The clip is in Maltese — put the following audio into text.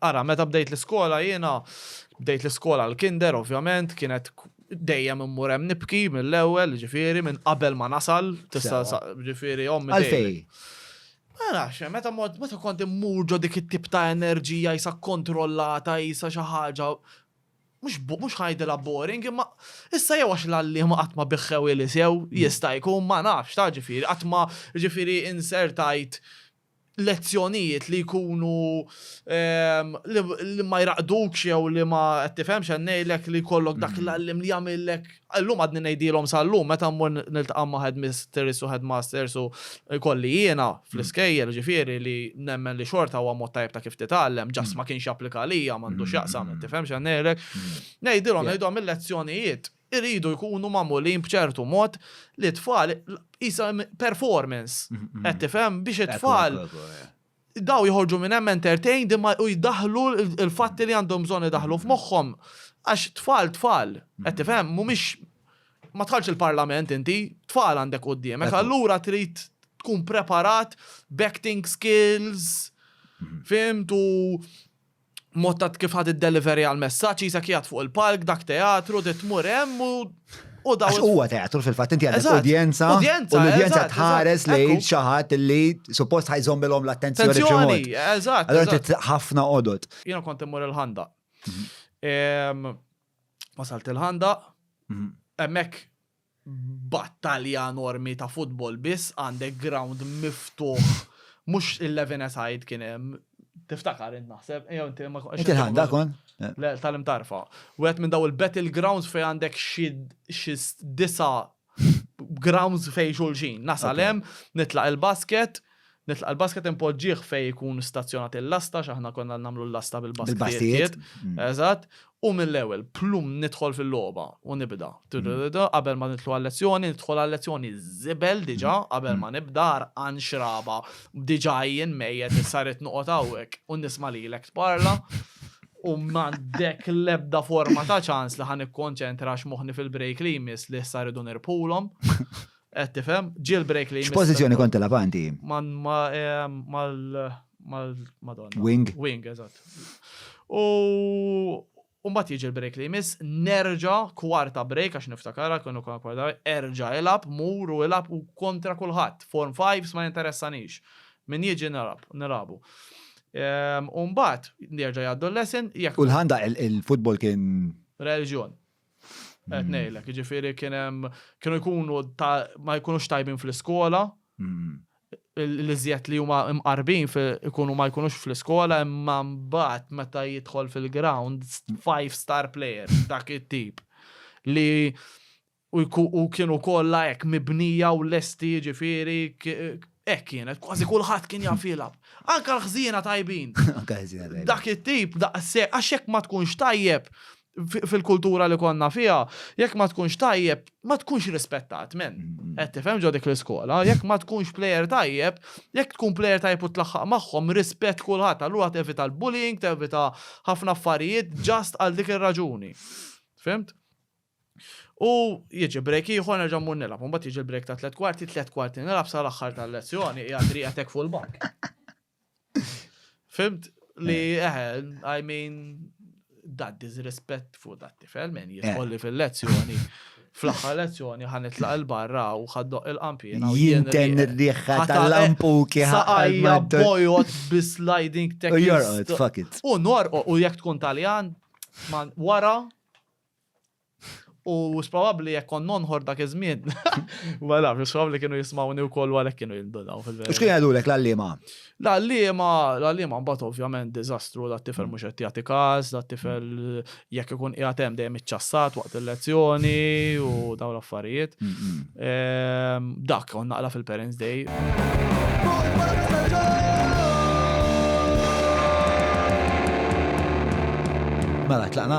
Ara, meta bdejt l-iskola jiena, bdejt l-iskola l-kinder ovvjament, kienet dejjem immur hemm nibki mill-ewwel, jiġifieri minn qabel ma nasal, tista' Sewwa. jiġifieri ommi dejjem- Għalfejn? Ma nafx, meta mort, meta kont immur ġo dik it-tip ta' enerġija qisha kkontrollata, qisha xi ħaġa, mhux bo, mhux ngħidilha boring, imma issa jew għax l-għalliema qatt ma biħħewheli sew, jista' jkun, ma nafx, taf, ġifieri qatt ma, jiġifieri insertajt lezzjonijiet li jkunu li ma jraqqdukx jew li ma qed tifhem x'qed ngħidlek li jkollok dak l-għalliem li jagħmillek, illum għadni ngħidilhom sal-lum meta mmur niltaqa' ma' headmistress u headmasters u jkolli jiena fl-iskejjel ġifieri li nemmen li xorta huwa mod tajjeb ta' kif titgħallem, ġast ma kienx japplika għalija, m'għandu x'jaqsam, qed tifhem x'qed ngħidlek. Ngħidilhom, ngħidhom il-lezzjonijiet. iridu jkunu magħmulin b'ċertu mod li t-tfal qisha performance. Qed tifhem biex it-tfal daw jħorġu minn hemm entertained imma u jdaħlu l-fatti li għandhom bżonn idaħlu f'moħħhom għax tfal tfal. Qed tifhem mhumiex ma tħallx il-parlament inti, tfal għandek quddiemek, allura trid tkun preparat b'acting skills, fimtu mod ta' kif ħad id-delivery għal messaġġ jisek jgħat fuq il-palk, dak teatru, di tmur hemm u u daw. Huwa teatru fil-fatt inti għandek udjenza. Udjenza. U l-udjenza tħares lejn xi ħadd li suppost ħajżommilhom l-attenzjoni. Attenzjoni, eżatt. Allora inti ħafna qodod. Jiena kont immur il-ħanda. Mhm. Wasalt il-ħanda, mhm. hemmhekk battalja enormi ta' futbol biss għandek ground miftuħ mhux il-Levine side kien hemm tiftakar int naħseb jew inti ma konx. Inti ħanda kon? Le tal-imtarfa. Wieħed minn daw il-battle grounds fejn għandek xi disa' grounds fejn xulxin. Nasal hemm, nitlaq il-basket, Nitlaqa' l-basket inpoġġih fejn ikun stazzjonat il-lasta għax aħna konna nagħmlu l-lasta bil-basktijiet. Eżatt. U mill-ewwel, plum nidħol fil-logħba u nibda. Qabel ma nidħlu għal-lezzjoni, nidħol għal-lezzjoni żibel diġà qabel ma nibda għarqan xraba. Diġà jien mejjet issa rrid noqgħod hawnhekk u nisma' lilek tparla u m'għandek l-ebda forma ta' ċans li ħa nikkonċentra għax moħħni fil-break li jmiss li issa rridu nirbħulhom. Qed eh, tifhem, jailbreak li. X'pożizzjoni kont tilab anti? Eh, mal mal madonna. Wing. Wing, eżatt. U Umbat jiġi l-break li jmiss, nerġa kwarta break għax niftakara, kienu kwa kwarta erġa ilab, mur u ilab u kontra kulħadd. Form 5 ma jinteressanix. Min jiġi nilab, nilabu. Ehm, Umbat, nerġa jgħaddu l-lesson. U l-ħanda il-futbol kien. Reġjon. Qed ngħidlek, jiġifieri kien hemm kienu jkunu ma jkunux tajbin fl-iskola. Mm. L-iżjed li huma mqarbin ikunu ma jkunux fl-iskola imma mbagħad meta jidħol fil-ground five star player dak it-tip li u kienu kollha hekk mibnija u lesti jiġifieri hekk kienet kważi kulħadd kien jaf jilgħab. Anka l-ħżiena tajbin. Dak it-tip daqshekk għax hekk ma tkunx tajjeb fil-kultura li konna fiha, jekk ma tkunx tajjeb, ma tkunx rispettat, men. Qed tifhem ġo dik l-iskola, jekk ma tkunx plejer tajjeb, jekk tkun plejer tajjeb u tlaħħaq magħhom, rispett kulħadd, allura tevita l-bullying, tevita ħafna affarijiet ġast għal dik ir-raġuni. Fimt? U jiġi break ieħor nerġa' mmur nilgħab, imbagħad jiġi l-break ta' tliet kwarti, tliet kwarti nilgħab sal-aħħar tal-lezzjoni, hija triqetek fuq il-bank. Fimt li, eh, I mean, that disrespect fuq dat tifel, men jitkolli eh. fil-lezzjoni. Fl-axħar lezzjoni ħan itlaq il-barra u ħaddoq il-qampina. Jinten riħħa tal-lampuki ħajja bojot bis-sliding technique. U jorqot, fuck it. U norqot, u jek tkun taljan, man wara U x'probabbli jekk kont nonħor dak iż-żmien. Ma nafx, x'probabbli kienu jismawni wkoll u għalhekk kienu jindunaw fil-verità. U x'kienu jgħidulek l-għalliema? L-għalliema, l-għalliema mbagħad ovvjament diżastru, dat tifel mhux qed jagħti każ, dat tifel jekk ikun qiegħed hemm dejjem iċċassat waqt il-lezzjoni u dawn l-affarijiet. Ehm, dak, on naqra fil-Parents Day. Mela, tlaqna?